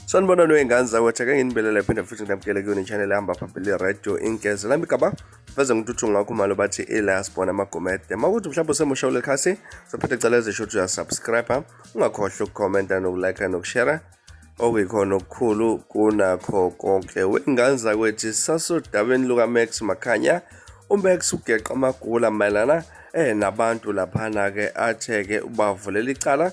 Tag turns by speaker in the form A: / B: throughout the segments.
A: sanibona noyingane zakwethu ake nginibelele phinde futhi nginamkele kuyona i-channel ehamba phambili radio inkeze lami gaba veze ngintuthu ngakho malo bathi ilasbona amagomede uma ukuthi mhlawumbe usemusha ulekhasi sophethe cala ezisho ukuthi uyasubscribe ungakhohlwa ukukhomenta nokulike nokushera okuyikhona okukhulu kunakho konke wengane zakwethi sasodabeni lukamax makhanya umax ugeqa amagula mayelana eh nabantu laphana-ke athe-ke ubavulela icala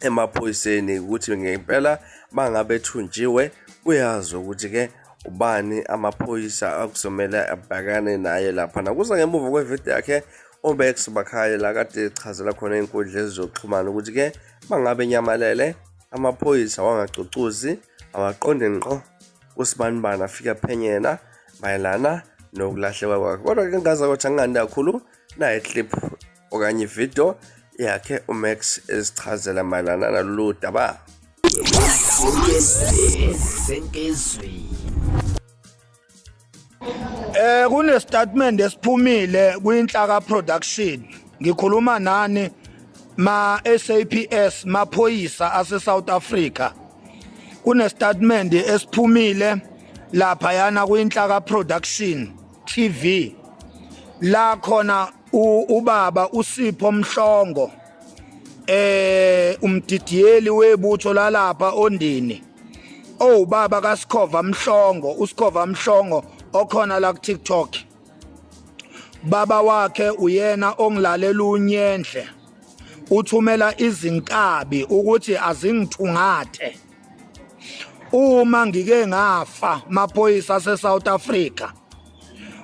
A: emaphoyiseni ukuthi ngempela bangabethunjiwe uyazi ukuthi-ke ubani amaphoyisa akuzomele abhekane naye laphana kuza ngemuva kwevidiyo yakhe uBex Bakhaye la kade echazela khona inkundla ezizoxhumana ukuthi ke bangabe nyamalele amaphoyisa wangacucuzi awaqonde ngqo usibanibani afike aphenyena mayelana nokulahleka kwakhe kodwa ke ngaza ukuthi angingandi kakhulu naye clip okanye ividiyo yakhe umax ezichazela mayelana nalolu daba sentezweni
B: Eh kune statement esiphumile kwinhlaka production. Ngikhuluma nani ma SAPS maphoyisa ase South Africa. Kune statement esiphumile lapha yana kwinhlaka production TV la khona ubaba usipho mhlongo eh umdidiyeli webutho lalapha ondini oh baba kasikhova mhlongo usikhova mhlongo okhona la ku TikTok baba wakhe uyena ongilalela unyendle uthumela izinkabi ukuthi azingithungathe uma ngike ngafa maphoyisa aseSouth Africa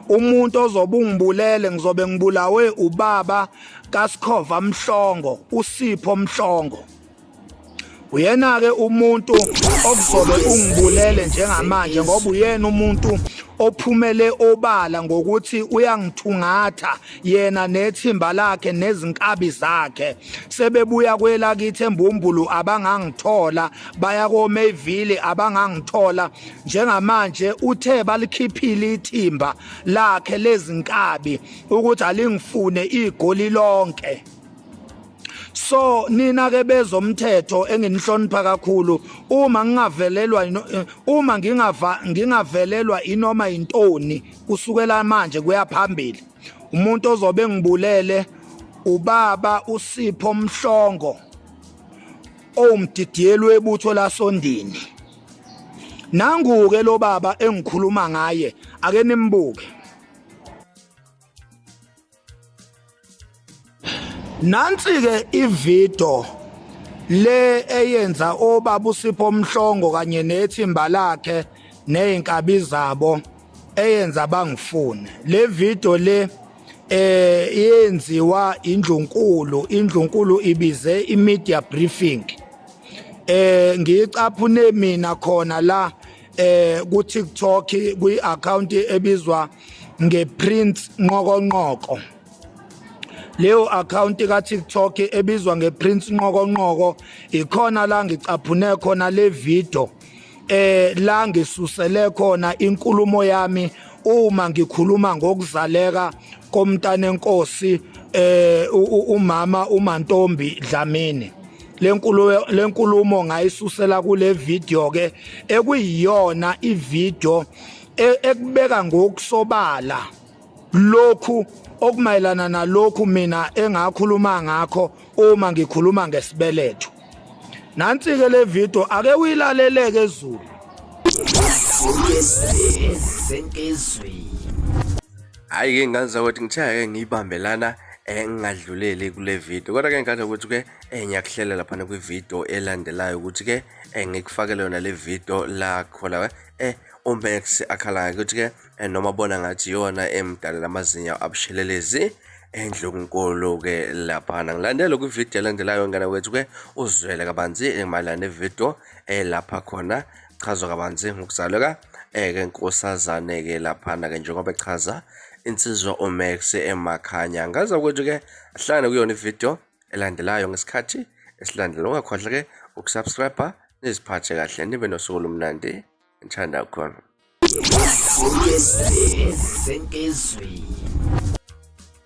B: umuntu ozobe ungibulele ngizobe ngibulawe ubaba kaSikhova Mhlongo uSipho Mhlongo uyena ke umuntu okuzobe ungibulele njengamanje ngoba uyena umuntu ophumele obala ngokuthi uyangithungatha yena nethimba lakhe nezinkabi zakhe sebebuya kwelakithi embumbulu abangangithola baya koMayville abangangithola njengamanje uthe balikhiphile ithimba lakhe lezinkabi ukuthi alingifune igoli lonke so nina ke bezomthetho enginihlonipha kakhulu uma ngingavelelwa eh, uma ngingava ngingavelelwa inoma intoni kusukela manje kuya phambili umuntu ozobe ngibulele ubaba usipho mhlongo owumdidiyeli webutho lasondini nangu-ke lo baba engikhuluma ngaye ake nimbuke Nansi ke ivideo le eyenza obabu Sipho Mhlongo kanye nethimba lakhe nezinkabi zabo eyenza bangifune le video le eh yenziwa indlunkulu indlunkulu ibize i media briefing eh ngiyicaphune mina khona la eh ku TikTok kwi account ebizwa ngePrince Nqokonqoko leyo akhawunti ka-tiktok ebizwa ngeprince nqokonqoko ikhona la ngicaphune khona le video eh la ngisusele khona inkulumo yami uma ngikhuluma ngokuzaleka komntanenkosi eh umama uMantombi Dlamini lenkulumo lenkulumo ngayisusela kule video ke ekuyiyona ivideo e, ekubeka ngokusobala lokhu okumayelana nalokhu mina engakhuluma ngakho uma ngikhuluma ngesibeletho nansi ke le video ake uyilaleleke ezulu
A: hayi ke ngazizwa ukuthi ngithaya ke ngiyibambelana engingadluleli eh, kule video kodwa ke ngikhathele ukuthi ke eh, ngiyakuhlela laphana kwivideo elandelayo ukuthi ke eh, ngikufakele yona le video lakho la eh uMax akhalayo ukuthi-ke eh, noma bona ngathi yona emdalela amazinyo abushelelezi endlunkulu-ke laphana ngilandele kwividiyo elandelayo ngane wethu-ke uzwele kabanzi mayelana nevidiyo elapha eh, khona chazwa kabanzi ngokuzaleka eke eh, nkosazane-ke laphana-ke njengoba echaza insizwa umax emakhanya ngaza kwethu-ke ahlangane kuyona ividiyo elandelayo ngesikhathi esilandela ungakhohlwa ke ukusubscribe niziphathe kahle nibe nosuku lomnandi ngithanda khona senkizweni